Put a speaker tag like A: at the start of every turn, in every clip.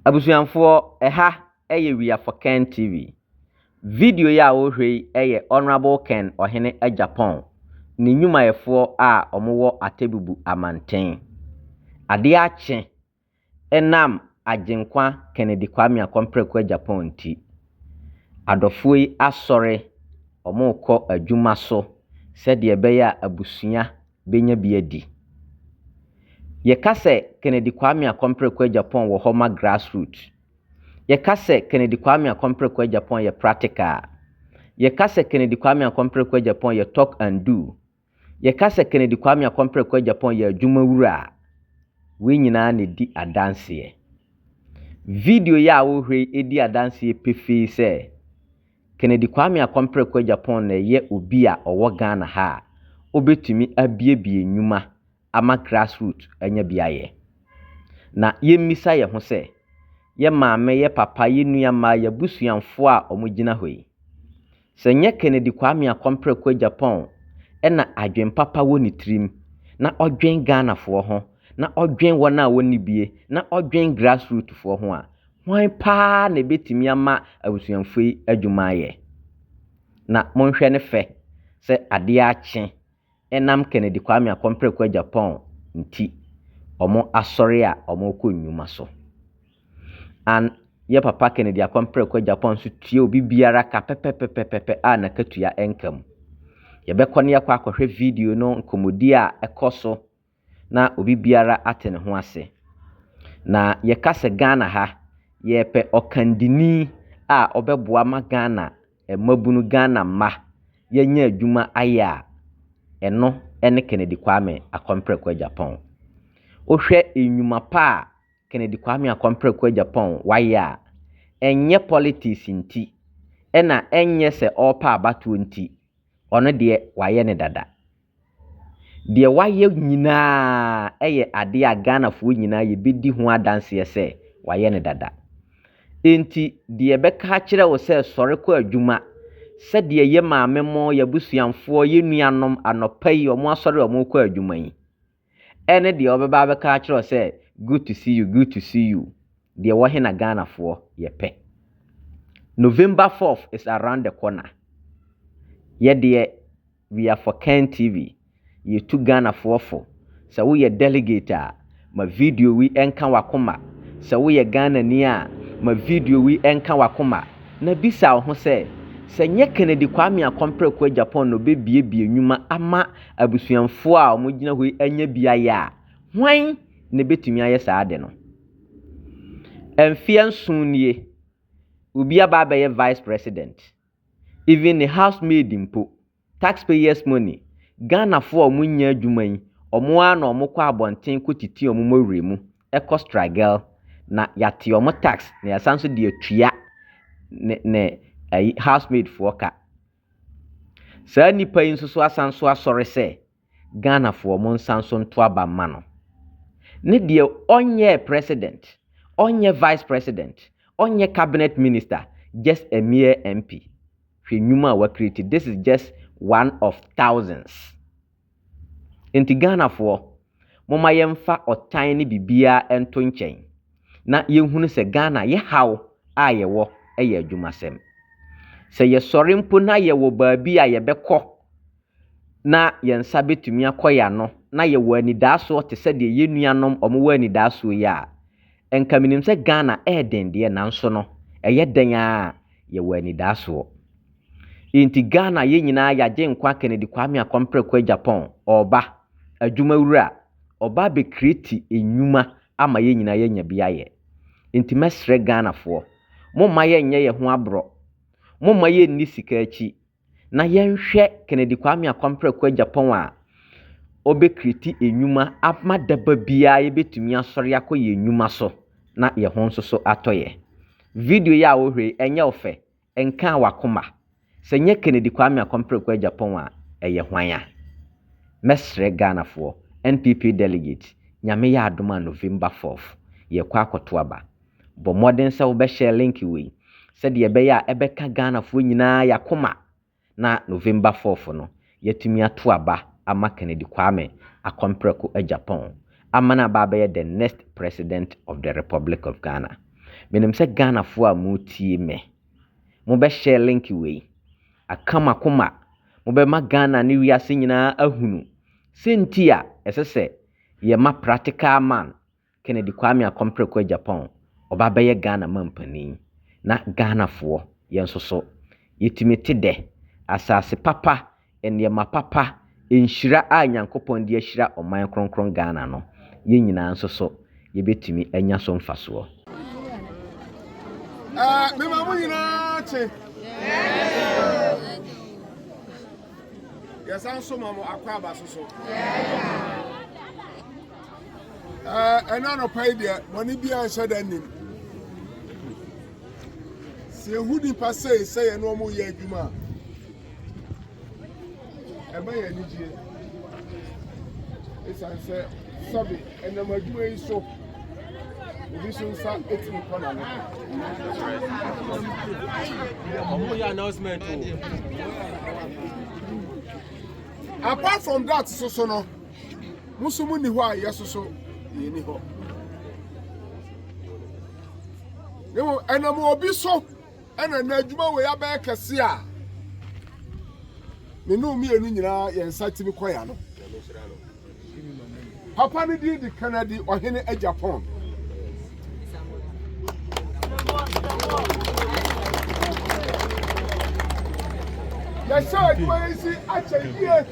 A: Abusuafoɔ, ɛha yɛ We Are For Ken TV. Video yi a wohwɛ yi yɛ Honourable Ken Ɔhene Agyapong ne nnwumayɛfoɔ a wɔwɔ Atebubu Amanten. Adeɛ akye ɛnam Agyenkwa Kennedy Kwame Akɔ Mprɛko Agyapong nti, adɔfoɔ yi asɔre, wɔrekɔ adwuma so sɛdeɛ ɛbɛyɛ a abusua benya bi adi. Yɛka sɛ Kennedy Kwame Akompere Kwajapong wɔ hɔ ma grassroot. Yɛka sɛ Kennedy Kwame Akompere Kwajapong yɛ practical a. Yɛka sɛ Kennedy Kwame Akompere Kwajapong yɛ talk and do. Yɛka sɛ Kennedy Kwame Akompere Kwajapong yɛ adwuma wura a, wei nyinaa na ɛdi adanseɛ. Video yi a wohwɛ yi di adanseɛ pefee sɛ Kennedy Kwame Akɔmpreko Agyapong na ɛyɛ obi a ɔwɔ Ghana ha a ɔbɛtumi abuebue nnwuma ama grass root anya bi ayɛ. Na yɛmmisa yɛn ho sɛ, yɛ maame, yɛ papa, yɛ nua mmaa, yɛ abusuanfoɔ a wɔgyina hɔ yi, sɛ nyɛ Kennedy Kwame Akɔmpreko Agyapong na adwen papa wɔ ne tirim na ɔdwen Ghanafoɔ ho, na ɔdwen wɔn a wɔnni bie, na ɔdwen grass root foɔ ho a, Hwan paa na ebetumi ama abusuafo yi adwuma ayɛ? Na monhwɛ ne fɛ sɛ ade akye ɛnam Kennedy Kwame Akɔmpreko Agyapong nti wɔn asɔre a wɔkɔ nnwuma so. An yɛ papa Kennedy Akɔmpreko Agyapong nso tua obi biara ka pɛpɛpɛpɛpɛ a n'akatua nka mu. Yɛbɛkɔ na yɛakɔ akɔhwɛ video no nkɔmmɔdi a ɛkɔ so na obi biara ate ne ho ase. Na yɛka sɛ Ghana ha, yɛpɛ ɔkandini a ɔbɛboa ma Ghana mmabunu, Ghana mma, yɛanya adwuma ayɛ a, ɛno ne Kennedy Kwame Akɔmprɛko Agyapong. Wohwɛ nnwuma pa a Kennedy Kwame Akɔmprɛko Agyapong wayɛ a, ɛnyɛ politics nti, ɛna ɛnyɛ sɛ ɔrepɛ abatoɔ nti, ɔno deɛ wayɛ no dada. Deɛ wayɛ nyinaa yɛ adeɛ a Ghanafoɔ nyinaa yɛbɛdi ho adanseɛ sɛ wayɛ no dada. Enti deɛ ɛbɛka akyerɛ wo sɛ sɔre kɔ adwuma, sɛdeɛ yɛ maame mo, yɛ abusuamfoɔ, yɛ nuanom anɔpa yi wɔn asɔre a wɔrekɔ adwuma yi, Ɛne deɛ ɔbɛba abɛka akyerɛ wo sɛ good to see you, good to see you. Deɛ wɔ he na Ghanafoɔ yɛ pɛ. November fourth is around the corner. Yɛdeɛ we are for Ken TV. Yɛtu Ghanafoɔ fo. Sɛ woyɛ delegate a, ma video wi ɛnka wakoma. Sɛ woyɛ Ghanani a, ma video wi ɛnka wakoma. Na bisa wo ho sɛ, sɛ nyɛ Kennedy Kwame Akompreko Agyapong na ɔbɛbiebie nwuma ama Abusuafo a wɔgyina hɔ yi anya beae a, hwan na ebetumi ayɛ saa ade no? Mfe nson nie, obi aba abɛyɛ vice president, even ne house maid mpo, tax payers money, Ghanafo a wɔnnya adwuma yi, wɔn ara na wɔkɔ abɔnten kɔtiti wɔn mmɔwerɛ mu, kɔ struggle, na yɛate wɔn tax na yɛasan nso de atua ne ne ayi house maid foɔ ka. Saa nnipa yi nso so asan so asɔre sɛ Ghanafoɔ mo nsan so nto aba mma no. Ne deɛ ɔnyɛɛ president, ɔnyɛ vice president, ɔnyɛ cabinet minister, just a mere MP. Hwɛ nnwuma a wa create, this is just one of thousands. Enti Ghanafoɔ, momma yɛmfa ɔtan ne biribiara nto nkyɛn na yɛnhunu sɛ Ghana yɛ haw a yɛwɔ yɛ adwumasɛm. Sɛ yɛsɔre mpo na yɛwɔ baabi a yɛbɛkɔ na yɛn nsa bɛtumi akɔ yɛn ano na yɛwɔ anidaasoɔ te sɛ deɛ yɛn nuanom wɔwɔ anidaasoɔ yi a, nka menim sɛ Ghana ɛyɛ den deɛ nanso no ɛyɛ dɛn ara a yɛwɔ anidaasoɔ. Enti Ghana yɛn nyinaa yɛ Agyenkwa Kennedy Kwame Akɔm Preko Agyapong ɔɔba, adwuma wura, ɔɔba abɛ creati nnwuma ama yɛn nyinaa yɛanya bi ayɛ. Enti mɛsrɛ Ghanafoɔ, momma yɛn nyɛ yɛn ho aborɔ, momma yɛn nni sika akyi, na yɛn hwɛ Kennedy Kwame Akɔm Preko Agyapong a ɔbɛ creati nnwuma ama daba biara yɛbɛtumi asɔre akɔ yɛn nnwuma so na yɛn ho nso so atɔ yɛn. Video yi a wo hwɛ yi, ɛnyɛ wo fɛ, Nkaa w'akoma. Sɛ nyɛ Kennedy Kwame Akɔmpreko Agyapong a, ɛyɛ hwan a? Mɛsrɛ Ghanafoɔ, NPP Delegate, Nyame yɛ adom a November fourth, yɛrekɔ akɔto aba. Bɔ mmɔden sɛ wobɛ share link wei, sɛdeɛ ɛbɛyɛ a ɛbɛka Ghanafoɔ nyinaa y'akoma na November fourth no yɛatumi ato aba ama Kennedy Kwame akɔ mprɛko agya pɔn ama no aba abɛyɛ the next President of the Republic of Ghana. Menim sɛ Ghanafoɔ a moretie me, mobɛ share link wei, aka mo akoma, mobɛma Ghana ne wiase nyinaa ahunu sɛ nti a ɛsɛ sɛ yɛma practical man Kennedy Kwame Akɔmprɛ kɔɔ Japan, ɔba bɛyɛ Ghana manpanin. Na Ghanafoɔ, yɛn nso so, yɛtumi te dɛ. Asase papa, nneɛma papa, nhyira a Nyankopɔn de ahyira ɔman kronkron Ghana no, yɛn nyinaa nso so, yɛbɛtumi anya so mfasoɔ.
B: Mema mo nyinaa kye. Yɛsan so ma mo akwaaba so so. ɛna anɔpa yi deɛ bɔne biara nhyɛ da nnim sɛ yɛhu nnipa sei sɛ yɛne ɔmo yɛ adwuma a ɛma yɛ anigyeɛ ɛsiane sɛ sɛbe ɛnam adwuma yi so obi nso nsa ɛtumi kɔ nano
C: ɔmo yɛ announcement o
B: apart from that soso no Mo nso monni hɔ a yɛsoso yɛnni hɔ. Na mmom ɛnam obi so ɛna na adwuma wei abɛyɛ kɛse a ne ne mmienu nyinaa yɛn nsa tumi kɔ ya no. Papa no din de Kennedy Ɔhene Agyapong. yɛhyɛ adwuma yi si akyɛ yie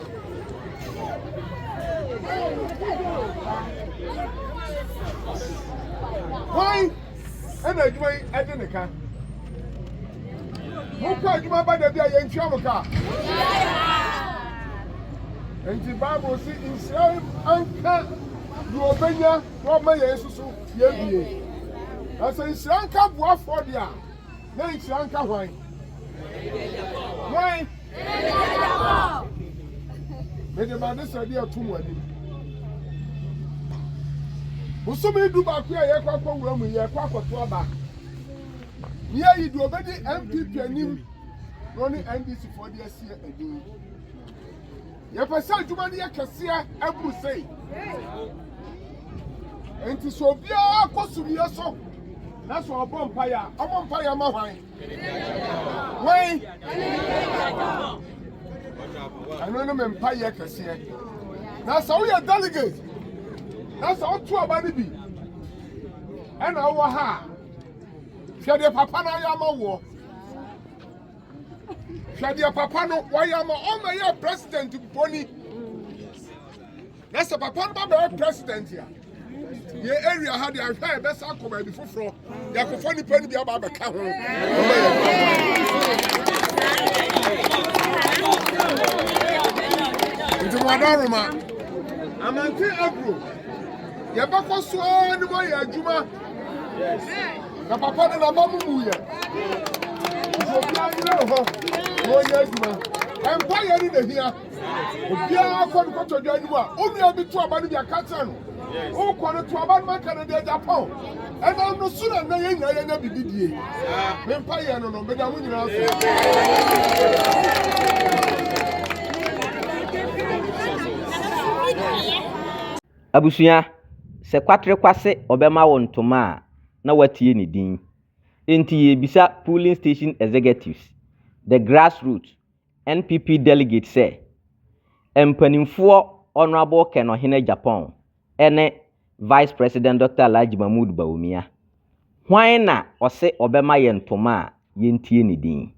B: hwan ɛna adwuma yi ɛde ne ka mokɔ adwuma ba da bi a yɛntua mo ka nti bible si nhyira anka deɛ ɔbɛnya na ɔma yɛn nso so yɛ bie. Na sɛ nhyira nka boafoɔ deɛ a, na nhyira nka hwan? Hwan? Mede m'adesrɛdeɛ ato mo anim. Bosome du baako a yɛkɔ akɔ wura mu yɛkɔ akɔto aba. Ne yɛyi deɛ ɔbɛdi NPP anim na ɔne NDC foɔ de asie anim. Yɛpɛ sɛ adwuma no yɛ kɛseɛ ɛboro sei. Enti sɛ obiara kɔ sumiɛ so na sɛ ɔbɔ mpaeɛ a, ɔbɔ mpaeɛ ama hwan? Hwan? Ɛno ne me mpaeɛ kɛseɛ. Na sɛ woyɛ delegate na sɛ woto aba no bi ɛna wowɔ ha a, hwɛ deɛ papa no ayɛ ama woɔ. Hwɛ deɛ papa no wɔyɛ ama ɔma yɛ president mponi na sɛ papa no babɛyɛ president a yɛ area ha deɛ ahwɛ a yɛbɛsa akɔ baabi foforɔ yɛakɔfa nnipa no bi aba abɛka ho ɔma yɛ nti moada roma amante agro yɛbɛkɔ so ara ne moayɛ adwuma na papa no naba mu mu yɛ nti obiara nyina ne hɔ na ɔnyɛ adwuma ɛmpa yɛ ne nahia obiara kɔ no kɔtɔ dwa anim a onua bi to aba no bi aka kyerɛ no wokɔ no to aba no maka no deɛ gyapɔn ɛnam no so na nnɛ yɛ nyinaa yɛnya biribi die mempa yɛ no no meda mo nyinaa so
A: Abusua, Sɛ Kwatre Kwase ɔbɛma wo ntoma a, na woatie ne din. Enti yɛrebisa Polling Station Executives, the grassroots NPP delegates sɛ, Mpanimfoɔ Honourable Ken Ɔhene Agyapong ne Vice President Dɔkta Alhaji Mahmood Bawumia, hwan na ɔse ɔbɛma yɛn ntoma a yɛntie ne din?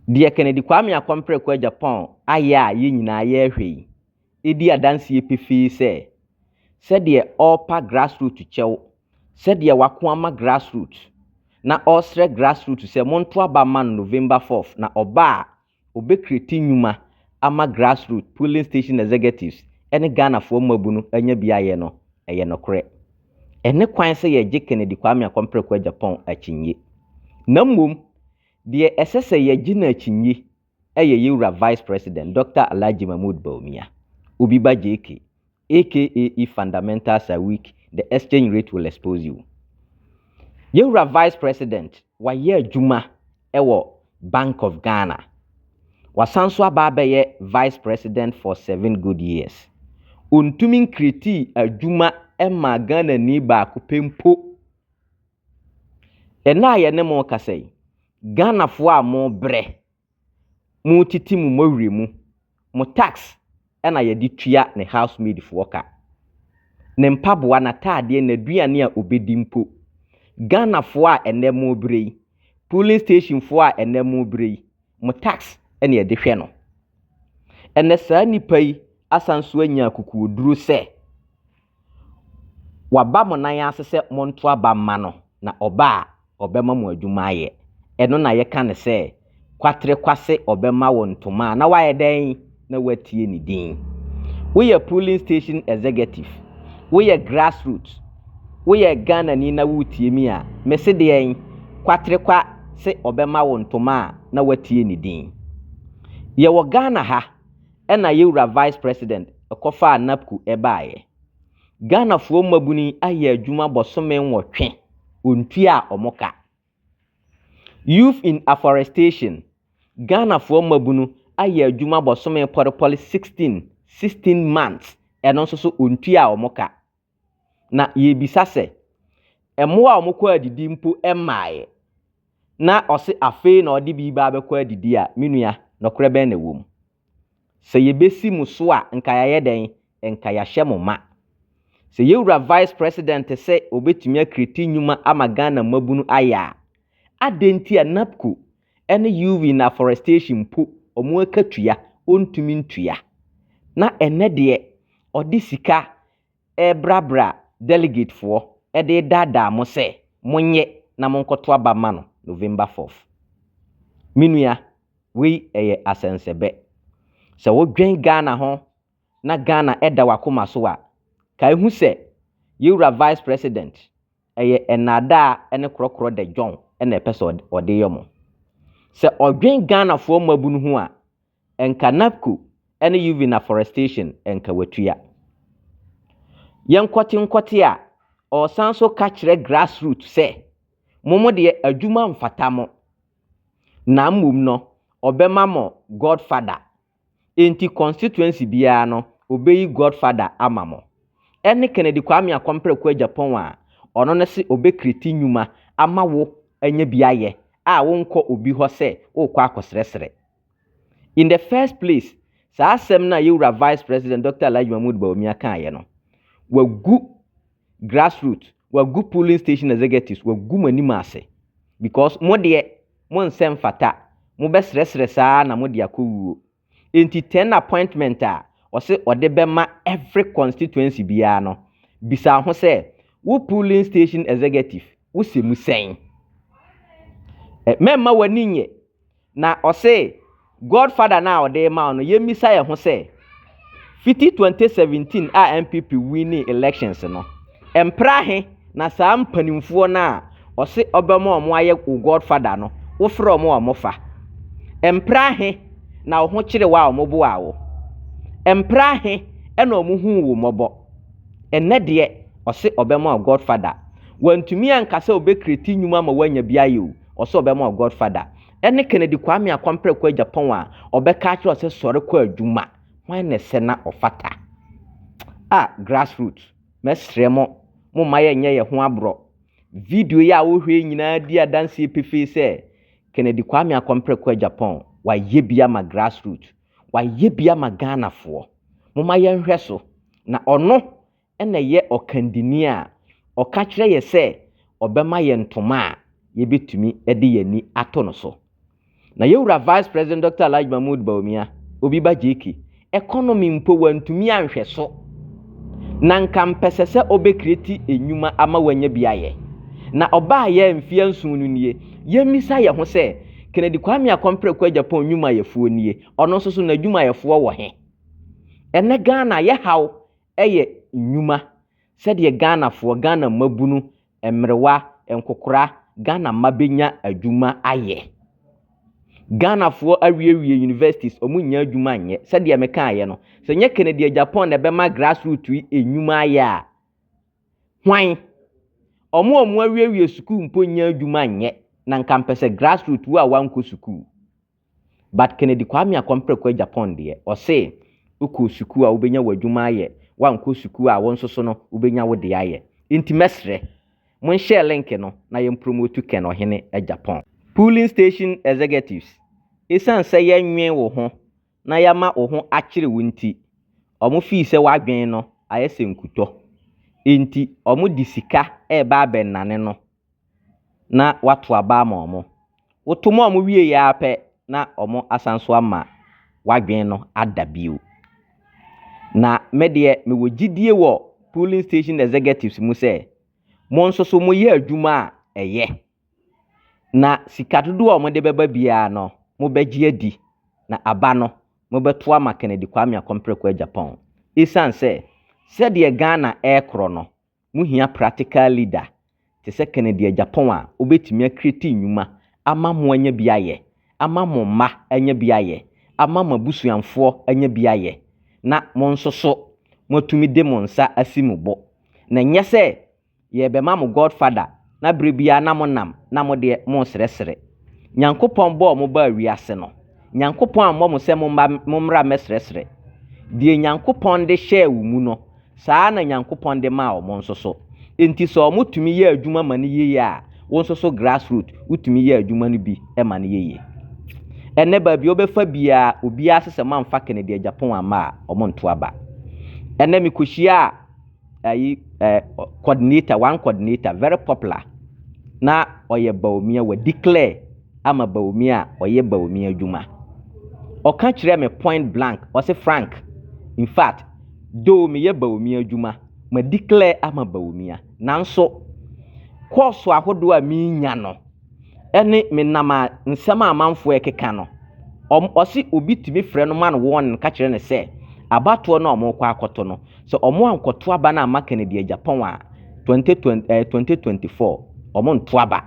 A: Deɛ Kennedy Kwame Akompre Ko Agyapong ayɛ a yɛn nyinaa yɛrehwɛ yi, di adanseɛ pefee sɛ, sɛdeɛ ɔrepa grassroot kyɛw, sɛdeɛ wako ama grassroot, na ɔresrɛ grassroot sɛ monto aba mma no November fourth, na ɔba a, ɔbɛkreti nnwuma ama grassroot, polling station executives, ne Ghanafoɔ mmabunu anya bi ayɛ no, ɛyɛ nokorɛ. Ɛne kwan sɛ yɛgye Kennedy Kwame Akompreko Agyapong akyinnye. Na mmom, deɛ ɛsɛ sɛ yɛgye no akyinnye yɛ yɛn wura Vice President Dɔkta Alhaji Mahmood Bawumia, Obi ba JK, aka If fundamentals are weak, the exchange rate will expose you. Yɛn wura Vice President, wayɛ adwuma wɔ Bank of Ghana. Wasan nso aba abɛyɛ Vice President for seven good years. Ɔntumi nkretii adwuma mmaa Ghanani baako pɛ mpo. Ɛnnɛ a yɛne mo rekasa yi, Ghanafoɔ a mobrɛ, motete mo mmɔwerɛ mu, mo tax na yɛde tua ne house maid foɔ ka. Ne mpaboa, n'ataadeɛ, n'aduane a ɔbɛdi mpo. Ghanafoɔ a ɛnnɛ mobrɛ yi, polling station foɔ a ɛnnɛ mobrɛ yi, mo tax na yɛde hwɛ no. Ɛnnɛ saa nipa yi asan so anya akukuoduro sɛ, Waba mo nan ase sɛ monto aba mma no, na ɔba a, ɔbɛma mo adwuma ayɛ. Ɛno na yɛka no sɛ, Kwaterekwase ɔbɛma wo ntoma a, na woayɛ dɛn? Na woatie ne din. Woyɛ polling station executive, woyɛ grassroots, woyɛ Ghanani na woretie me a, mese deɛn? Kwaterekwa se ɔbɛma wo ntoma a, na woatie ne din. Yɛwɔ Ghana ha, na yewura Vice President kɔfaa NAPCU baeɛ. Ghanafoɔ mmabunu yi ayɛ adwuma bɔsome nwɔtwe, wɔntuaa wɔn ka. Youth in Afforestation, Ghanafoɔ mmabunu ayɛ adwuma bɔsome pɔrepɔre 16, 16 months, ɛno nso so wɔntuaa wɔn ka. Na yɛrebisa sɛ, mmoa a wɔkɔ adidi mpo mmaeɛ? Na ɔse afei na ɔde bi reba abɛkɔ adidi a, me nua, nɔkorɛ bɛn na ɛwɔ mu? Sɛ yɛbɛsi mo so a, nka yɛayɛ dɛn? Nka yɛahyɛ mo ma. Sɛ yɛn wura Vice President sɛ ɔbɛtumi a create nnwuma ama Ghana mmabunu ayɛ a, adɛn nti a NAPCO ɛne UV na afforestation mpo ɔmo ɛka tua ɔntumi ntua na ɛnɛ deɛ ɔde sika ɛɛbrabra delegate foɔ ɛde daadaa mo sɛ monyɛ na monkɔto aba ma no November fourth me nua wei ɛyɛ asɛnsɛbɛ sɛ wo dwen Ghana ho na Ghana ɛda wakoma so a kae hu sɛ yɛwura vice president Ɛyɛ nnaadaa ne korɔkorɔ dɛ John na ɛpɛ sɛ ɔde yɛ mo. Sɛ ɔdwen Ghanafoɔ mmabunu ho a, nka NAPCO ne Uvin Afforestation nka watua. Yɛ nkɔte nkɔte a, ɔresan nso ka kyerɛ grass root sɛ, mo mo deɛ adwuma mfata mo, na mmom no ɔbɛma mo God father. Enti constituency biara no obeyi god father ama mo. Ɛne Kennedy Kwame Akɔm Prɛko Agyapong a ɔno no se ɔbɛ create nwuma ama wo anya bi ayɛ a wo nkɔ obi hɔ sɛ wo kɔ akɔsrɛsrɛ. In the first place saa asɛm no a yɛwura Vice President Dɔkta Alhaji Mahmood Bawumia kaayɛ no wagu grassroot wagu polling station executives wagu mo anim ase because mo deɛ mo nsɛ mfata mo bɛ srɛsrɛ saa na mo de akɔ wuo enti ten appointment a ɔse ɔde bɛma every constituency biara no bisa ho sɛ wo polling station executive wo sɛ mu sɛn mɛmma w'ani nyɛ Na ɔse God father no a ɔde rema wo no yɛn misa yɛn ho sɛ fiti 2017 a NPP winning elections no mpra he na saa mpanimfoɔ no a ɔse ɔbɛma ɔmo ayɛ wo God father no wo frɛ ɔmo a ɔmo fa mpra he na wo ho kyere wo a ɔmo boaa wo mpra he na ɔmo huu wo mmɔbɔ ɛnɛ deɛ ɔse ɔbɛma wo God father wantumi anka sɛ ɔbɛ create nnwuma ama woanya bi ayɛ o Ɔsɛ ɔbɛma wo god father. Ɛne Kennedy Kwame Akwampere kɔ Japan a ɔbɛka akyerɛ wo sɛ sɔre kɔ adwuma. Hwan na ɛsɛ na ɔfata? Ah grass root mɛsrɛ mo momma yɛ nyɛ yɛ ho aborɔ. Video yi a wo hwɛ yi nyinaa di adanseɛ pefee sɛ Kennedy Kwame Akwampere kɔ Japan wayɛ bi ama grass root. Wayɛ bi ama Ghanafoɔ. Momma yɛnhwɛ so na ɔno na ɛyɛ ɔkandini a ɔka kyerɛ yɛn sɛ ɔbɛma yɛn ntoma a yɛbɛtumi de yɛn ani ato no so. Na yɛn wura Vice President Dɔkta Alhaji Mahmood Bawumia, Obi Ba JK, economy mpo wantumi anhwɛ so. Na nka mpɛsɛ sɛ ɔbɛkreti nnwuma ama wanya bi ayɛ. Na ɔbaa yɛ mfeɛ nson no nie, yɛmmisa yɛn ho sɛ, Kennedy Kwame Akɔmpreko Agyapong nnwumayɛfoɔ nie, ɔno nso so n'adwumayɛfoɔ wɔ he? Ɛnnɛ Ghana yɛhaw yɛ nnwuma sɛdeɛ Ghanafoɔ, Ghana mmabunu, mmerewa, nkokora, Ghana mma bɛnya adwuma ayɛ. Ghanafoɔ awiewie universities, wɔn nnya adwuma nyɛ. Sɛdeɛ me kaeɛ no, sɛ nyɛ Kennedy Agyapong na ɛbɛma grassroot yi nnwuma ayɛ a, hwan? Wɔn a wɔn awiewie sukuu mpo nnya adwuma nyɛ, na nka mpɛ sɛ grassroot wo a wankɔ sukuu. But Kennedy Kwame Akɔmpreko Agyapong deɛ, ɔse, Wokɔɔ sukuu a wobɛnya w'adwuma ayɛ, woankɔ sukuu a wo nso so no wobɛnya wo deɛ ayɛ. Nti mɛsrɛ, monhyɛɛ link no na yɛmpromotu Ken Ɔhene Agyapong. Polling Station Executives, Esiane sɛ yɛnnwen wo ho na yɛama wo ho akyere wo nti, wɔn fii sɛ w'adwene no ayɛ sɛ nkutɔ. Enti wɔde sika reba abɛnnane no na wɔato aba ama wɔn. Woto ma wɔn wieeɛ ara pɛ na wɔasan nso ama w'adwene no ada bio. Na me deɛ mewɔ gyidie wɔ polling station executives mu sɛ mo nso so moyɛ adwuma a ɛyɛ na sika dodoɔ a wɔde bɛba biara no mobɛgye adi na aba no mobɛto ama Kennedy Kwame Akompere Kwei Agyapong. Ɛsiane sɛ sɛdeɛ Ghana ɛrekorɔ no Muhia practical leader te sɛ Kennedy Agyapong a obetumi a create nnwuma ama mo anya bi ayɛ, ama mo mma anya bi ayɛ, ama mo abusuanfoɔ anya bi ayɛ, na mo nso so moatumi de mo nsa asi mo bo. Na ɛnyɛ sɛ yɛrebɛma mo godfather. na bere biara na monam na mo deɛ mosrɛsrɛ. Nyankopɔn bɔɔ mo baa wiase no, Nyankopɔn ammɔ mo sɛ momma mommra mmɛsrɛsrɛ. Deɛ Nyankopɔn de hyɛɛ wo mu no, saa ara na Nyankopɔn de maa wɔn nso so. Enti sɛ wɔn tumi yɛ adwuma ma no yiye a, wo nso so grassroot wotumi yɛ adwuma no bi ma no yiye. Ɛnnɛ baabi a wobɛfa biara, obiara se sɛ moamfa Kennedy Agyapong amma a, wɔnto aba. Ɛnnɛ mekɔhyiaa. ayi ɛɛ coordinator one coordinator very popular na ɔyɛ Bawumia wɔ declare ama Bawumia a ɔyɛ Bawumia adwuma ɔka kyerɛ me point blank ɔsi Frank in fact though meyɛ Bawumia adwuma ma declare ama Bawumia nanso kɔɔso ahodoɔ a menya no. ɛne me nam a nsɛm a amanfoɔ rekeka no ɔm ɔse obi tumi frɛ no ma no wɔn no ka kyerɛ no sɛ abatoɔ no a wɔrekɔ akɔto no sɛ wɔn ankɔto aba no amma Kennedy Agyapong a 2020 eh, 2024 wɔn nto aba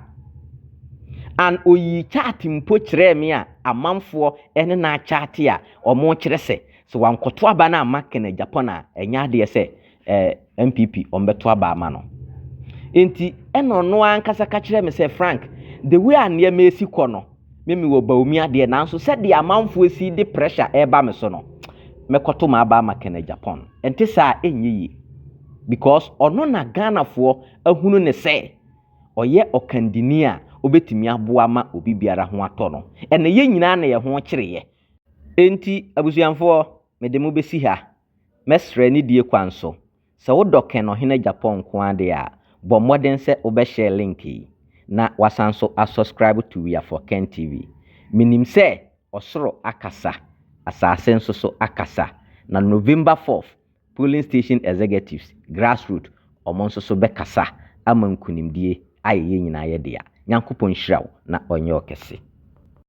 A: and oyii chart mpo kyerɛɛ me a amanfoɔ ɛne no akyate a wɔn kyerɛ sɛ sɛ wankɔto aba no amma Kennedy Agyapong a ɛnyɛ adeɛ sɛ ɛɛ NPP wɔbɛto aba ama no. Nti ɛna ɔno ankasa ka kyerɛɛ me sɛ Frank, the way a nneɛma esi kɔ no, me me wɔ Bawumia deɛ nanso sɛdeɛ amanfoɔ esi de pressure ɛreba me so no, mɛkɔto m'aba ama Kenneth Agyapong. Ɛnte saa a, ɛnyɛ yie. Because ɔno na Ghanafoɔ ahunu no sɛ ɔyɛ ɔkandini a ɔbɛtumi aboa ma obi biara ho atɔ no. Ɛna yɛn nyinaa na yɛn ho kyereeɛ. Nti abusuamfoɔ, mede mo bɛsi ha Mɛsrɛ nidie kwan so, sɛ wodɔ Ken Ɔhene Agyapong nko ara deɛ a, bɔ mmɔden sɛ wobɛ share link yi, na wasan nso a subscribe to We Are For Ken TV. Menim sɛ ɔsoro akasa, asase nso so akasa, na November fourth polling station executives, grassroot, wɔn nso so bɛkasa ama nkunimdie ayɛ yɛn nyinaa yɛ dea. Nyankopɔn nhyira wo na ɔnyɛ wo kɛse.